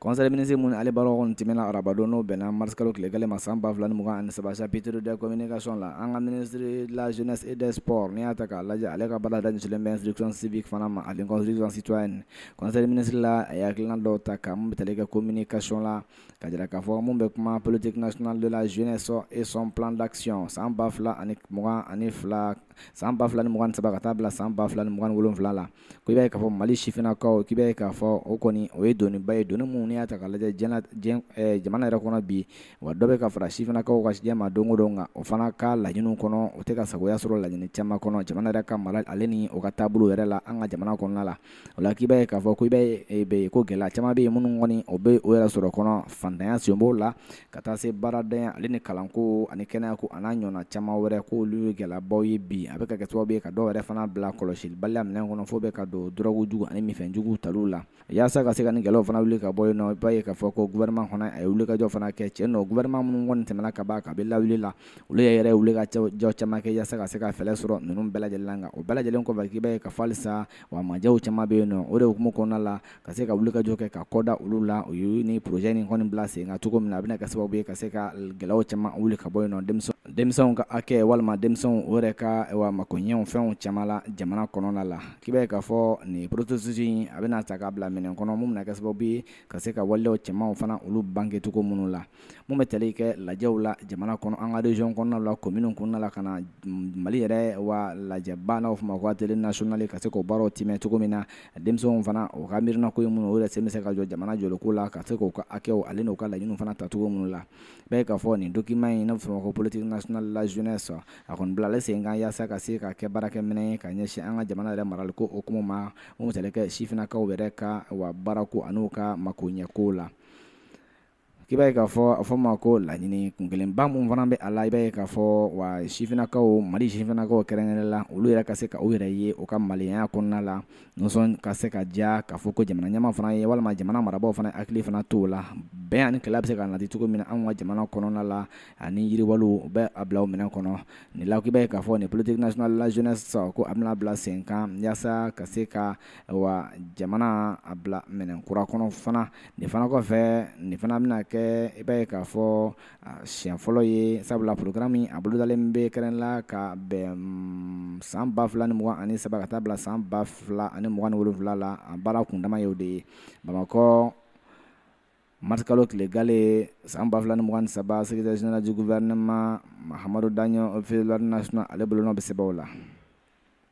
conseil des ministres mun ale baaraw kɔni tiimɛna arabadon n'o bɛnna marisikalo tile gale ma san 2020 ani saba chapitre de communication la an ka ministre de la jeunesse et des sports n'i y'a ta k'a lajɛ ale ka baara ɲɛsinlen bɛ instruction civique fana ma ani construction citoyenne conseil des ministres la a ye hakilina dɔw ta ka mun bɛ tali kɛ communication la ka jira k'a fɔ mun bɛ kuma politique nationale de la jeunesse et son plan d'action san 2022 san 2023 ka taa bila san 2027 la ko i b'a ye k'a fɔ Mali sifinnakaw k'i b'a ye k'a fɔ o kɔni o ye doniba ye doni mun n'i y'a ta k'a lajɛ diɲɛ diɲɛ eh, jamana yɛrɛ kɔnɔ bi wa dɔ bɛ ka fara sifinnakaw ka jɛ ma don o don nka o fana ka laɲiniw kɔnɔ o tɛ ka sagoya sɔrɔ laɲini caman kɔnɔ jamana yɛrɛ ka mara ale ni o ka taabolo yɛrɛ la an ka jamana kɔnɔna la o la k'i b'a ye k'a fɔ ko i b'a ye eh, bɛ ko gɛlɛya caman bɛ yen minnu kɔni o bɛ o yɛrɛ sɔrɔ kɔnɔ fantanya sen b'o la ka taa se baarantanya ale ni kalanko ani kɛnɛyako an'a ɲɔgɔnna caman wɛrɛ ko olu ye gɛlɛyabaw ye bi a bɛ ka kɛ sababu ye ka dɔw yɛrɛ fana bila kɔlɔsibaliya minɛn kɔnɔ fo bɛ ka don dɔrɔgujugu ani minfɛnjuguw taliw la yaasa ka se ka nin gɛlɛyaw fana wuli ka bɔ yen nɔ i b'a ye k'a fɔ ko gouvernement fana a ye wulikajɔ fana kɛ cɛ nɔ gouvernement minnu kɔni tɛmɛna ka ban kabi lawale la olu yɛrɛ yɛrɛ ye wulikajɔ caman kɛ yaasa ka se ka fɛɛrɛ sɔrɔ ninnu bɛɛ lajɛlen na nka o bɛɛ lajɛlen kɔfɛ k'i b'a ye k'a fɔ halisa wa majɛw caman bɛ yen nɔ o de hukumu kɔnɔna la ka se ka wulikajɔ kɛ ka kɔda olu la o ye nin projet nin kɔni bila sen kan cogo min na a bɛna kɛ sababu ye ka se ka gɛlɛyaw caman wuli ka bɔ yen nɔ denmisɛnw ka hakɛ walima denmisɛnw o yɛrɛ ka makoɲɛw fɛnw caman la jamana kɔnɔna la k'i b'a ye k'a fɔ nin processus in a bɛna ta k'a bila minɛn kɔnɔ mun bɛna kɛ sababu ye ka se ka waleyaw cɛmanw fana olu bange cogo minnu la mun bɛ tali kɛ lajɛw la jamana kɔnɔ an ka région kɔnɔnaw la commune kɔnɔna la ka na Mali yɛrɛ wa lajɛba n'a bɛ fɔ o ma ko atelier national ka se k'o baaraw tiimɛ cogo min na denmisɛnw fana u ka miirina ko ye minnu ye u yɛrɛ sen bɛ se ka jɔ jamana jɔliko la ka se k'u ka hakɛw ale n'u ka laɲiniw fana ta cogo minnu la i b'a ye k'a fɔ nin document in n'a bɛ fɔ o ma ko politique nationale de la jeunesse a kɔni bilala sen kan yaasa ka se ka kɛ baarakɛminɛn ye ka ɲɛsin an ka jamana yɛrɛ maraliko hukumu ma mun bɛ tali kɛ sifinnakaw yɛrɛ ka wa baarako an'u ka makoɲɛko la k'i b'a ye k'a fɔ a fɔ ma ko laɲini kun kelenba mun fana bɛ a la i b'a ye k'a fɔ wa sifinnakaw Mali sifinnakaw kɛrɛnkɛrɛn la olu yɛrɛ ka se k'u yɛrɛ ye u ka maliya kɔnɔna la nisɔn ka se ka diya k'a fɔ ko jamana ɲɛmaa fana ye walima jamana marabagaw fana hakili fana to u la bɛn ani ni kɛlɛ bɛ se ka nati cogo min na an ka jamana kɔnɔna la ani yiriwa u bɛ a bila minɛn kɔnɔ nin la k'i b'a ye k'a fɔ nin politique nationale de la jeunesse ko a bɛna bila sen kan yaasa ka se ka wa jamana a bila minɛn kura kɔnɔ fana nin fana kɔfɛ nin fana bɛna kɛ i b'a ye k'a fɔ siɲɛ fɔlɔ ye sabula programme min a bolodalen bɛ kɛrɛn la ka bɛn san ba fila ni mugan ani saba ka taa bila san ba fila ani mugan ni wolonwula la a baara kundama y'o de ye Bamakɔ marisikalo tile gale san ba fila ni mugan saba secrétaire général du gouvernement Mahamadu Daɲo officier de l'ordre national ale bolonɔ bɛ sɛbɛn la